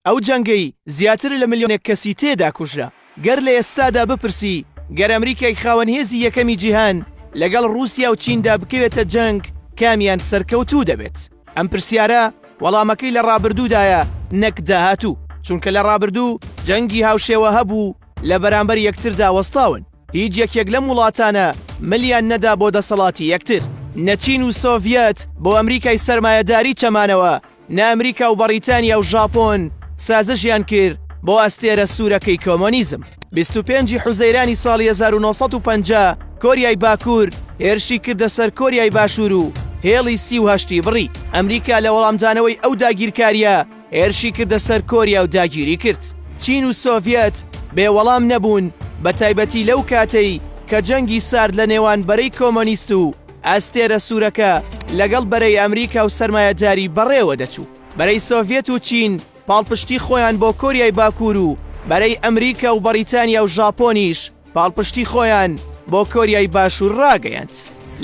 ئەو جەنگەی زیاتر لە ملیۆنێک کەسی تێدا کوژرا. گەر لە ئێستادا بپرسی گەر ئەمریکای خاوەن هێزی یەکەمی جیهان لەگەڵ ڕووسیا و چیندا بکەوێتە جەنگ کامیان سەرکەوتوو دەبێت؟ ئەم پرسیارە وەڵامەکەی لە ڕابردوودایە نەک داهاتوو، چونکە لە ڕابردوو جەنگی هاوشێوە هەبوو لە بەرامبەر یەکتردا وەستاون، هیچ یەکێک لەم وڵاتانە ملیان نەدا بۆ دەسەڵاتی یەکتر، نە چین و سۆڤیەت بۆ ئەمریکای سەرمایەداری چەمانەوە، نە ئەمریکا و بەڕیتانیا و ژاپۆن سازشیان کرد بۆ ئەستێرە سوورەکەی کۆمۆنیزم. 25 ی حوزەیرانی ساڵی 1950 کۆریای باکوور هێرشی کردە سەر کۆریای باشوور و هێڵی 38 ی بڕی. ئەمریکا لە وەڵامدانەوەی ئەو داگیرکارییە هێرشی کردە سەر کۆریا و داگیری کرد. چین و سۆڤیەت بێ وەڵام نەبوون، بەتایبەتی لەو کاتەی کە جەنگی سارد لە نێوان بەرەی کۆمۆنیست و ئەستێرە سوورەکە لەگەڵ بەرەی ئەمریکا و سەرمایەداری بەڕێوە دەچوو بەرەی سۆڤێت و چین پاڵپشتی خۆیان بۆ کۆریای باکوور و بەرەی ئەمریکا و بەڕیتانیا و ژاپۆنیش پاڵپشتی خۆیان بۆ کۆریای باشوور ڕاگەیاند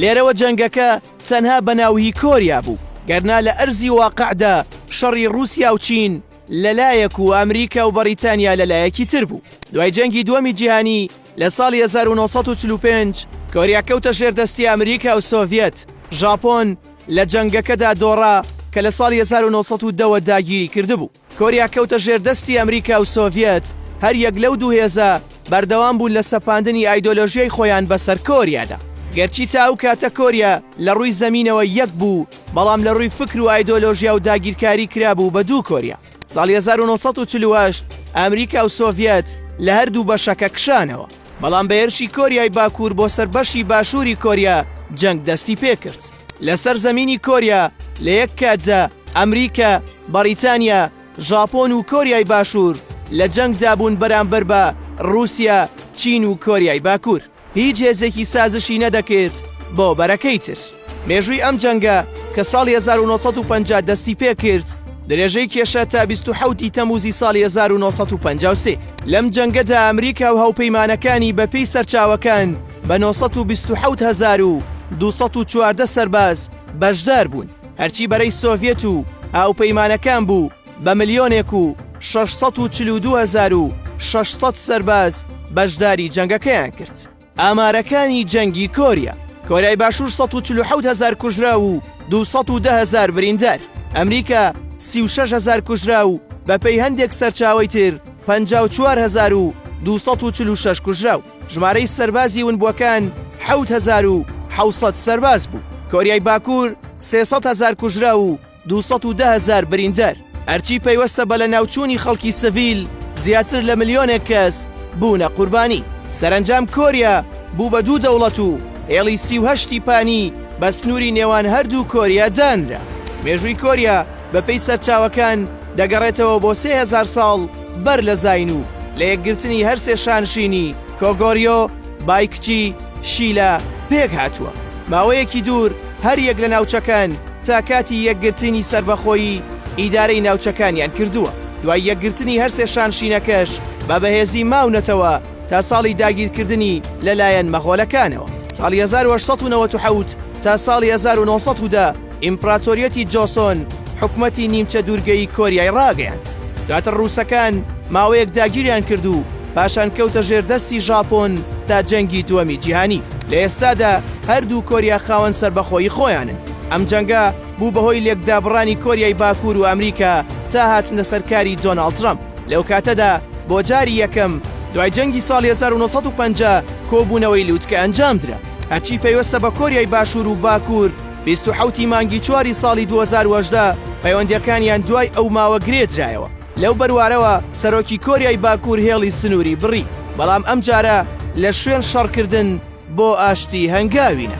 لێرەوە جەنگەکە تەنها بە ناو هی کۆریا بوو گەرنا لە ئەرزی واقعدا شەڕی رووسیا و چین لەلایەک و ئەمریکا و بەڕیتانیا لەلایەکی تر بوو دوای جەنگی دووەمی جیهانی لە ساڵی هەزار و نۆ سەد و چل و پێنج کۆریا کەوتە ژێر دەستی ئەمریکا و سۆڤیەت، ژاپۆن لە جەنگەکەدا دۆڕا کە لە ساڵی هەزار و نۆ سەد و دە وە داگیری کردبوو. کۆریا کەوتە ژێر دەستی ئەمریکا و سۆڤیەت، هەر یەک لەو دوو هێزە بەردەوام بوون لە سەپاندنی ئایدۆلۆژیای خۆیان بەسەر کۆریادا. گەرچی تا ئەو کاتە کۆریا لە ڕووی زەمینەوە یەک بوو، بەڵام لە ڕووی فکر و ئایدۆلۆژیا و داگیرکاری کرابوو بە دوو کۆریا. ساڵی هەزار و نۆ سەد و چل و هەشت ئەمریکا و سۆڤیەت لە هەردوو بەشەکە کشانەوە، بەڵام بە هێرشی کۆریای باکوور بۆ سەر بەشی باشووری کۆریا جەنگ دەستی پێکرد. لەسەر زەمینی کۆریا لە یەک کاتدا ئەمریکا، بەڕیتانیا، ژاپۆن و کۆریای باشوور لە جەنگدا بوون بەرامبەر بە ڕووسیا، چین و کۆریای باکوور. هیچ هێزێکی سازشی نەدەکرد بۆ بەرەکەی تر. مێژووی ئەم جەنگە کە ساڵی 1950 دەستی پێکرد، درێژەی کێشا تا 27 ی تەموزی ساڵی 1953. لەم جەنگەدا ئەمریکا و هاوپەیمانەکانی بە پێی سەرچاوەکان بە 927214 سەرباز بەشدار بوون. هەرچی بەرەی سۆڤیەت و هاوپەیمانەکان بوو، بە ملیۆنێک و شەش سەد و چل و دوو هەزار و شەش سەد سەرباز بەشداری جەنگەکەیان کرد. ئامارەکانی جەنگی کۆریا کۆریای باشوور ١٤٧ هەزار کوژراو و ٢١٠ هەزار بریندار، ئەمریکا ۊ٦ هەزار کوژراو و بەپێی هەندێک سەرچاوەی تر ٥٤ هەزار و ٢٤٦ کوژراو، ژمارەی سەربازی ونبووەکان حەوت هەزار و حەوت سەد سەرباز بوو، کۆریای باکوور ٣٠٠ هەزار کوژراو و دوو سەد و دە هەزار بریندەر، ئەرچی پەیوەستە بە لەناوچوونی خەڵکی سڤیل، زیاتر لە ملیۆنێک کەس بوونە قوربانی. سەرەنجام کۆریا بوو بە دوو دەوڵەت و هێڵی سی و هەشت ی پانی بە سنووری نێوان هەردوو کۆریا دانرا. مێژووی کۆریا بەپێی سەرچاوەکان دەگەڕێتەوە بۆ سێ هەزار ساڵ بەر لە زاین و لە یەکگرتنی هەر سێ شانشینی کۆگۆریۆ بای کچی شیلە پێک هاتووە ماوەیەکی دوور هەریەک لە ناوچەکان تا کاتی یەکگرتنی سەربەخۆیی ئیدارەی ناوچەکانیان کردووە دوای یەکگرتنی هەرسێ شانشینەکەش بە بەهێزی ماونەتەوە تا ساڵی داگیرکردنی لەلایەن مەغۆلەکانەوە ساڵی 1970 تا ساڵی 1970 ئیمپراتۆریەتی جۆسۆن حکومەتی نیمچە دوورگەی کۆریای ڕاگەیاند دواتر ڕووسەکان ماوەیەک داگیریان کرد و پاشان کەوتە ژێر دەستی ژاپۆن تا جەنگی دووەمی جیهانی لە ئێستادا هەردوو کۆریا خاوەن سەربەخۆیی خۆیانن ئەم جەنگە بوو بەهۆی لێکدابڕانی کۆریای باکوور و ئەمریکا تا هاتنە سەرکاری دۆناڵد ترەمپ لەو کاتەدا بۆ جاری یەکەم دوای جەنگی ساڵی 1950 کۆبوونەوەی لوتکە ئەنجامدرا هەرچی پەیوەستە بە کۆریای باشوور و باکوور بیست و حەوت ی مانگی چوار ی ساڵی دوو هەزار و هەژدە پەیوەندییەکانیان دوای ئەو ماوە گرێ درایەوە، لەو بەروارەوە سەرۆکی کۆریای باکوور هێڵی سنووری بڕی، بەڵام ئەمجارە لە شوێن شەڕکردن بۆ ئاشتی هەنگاوینە.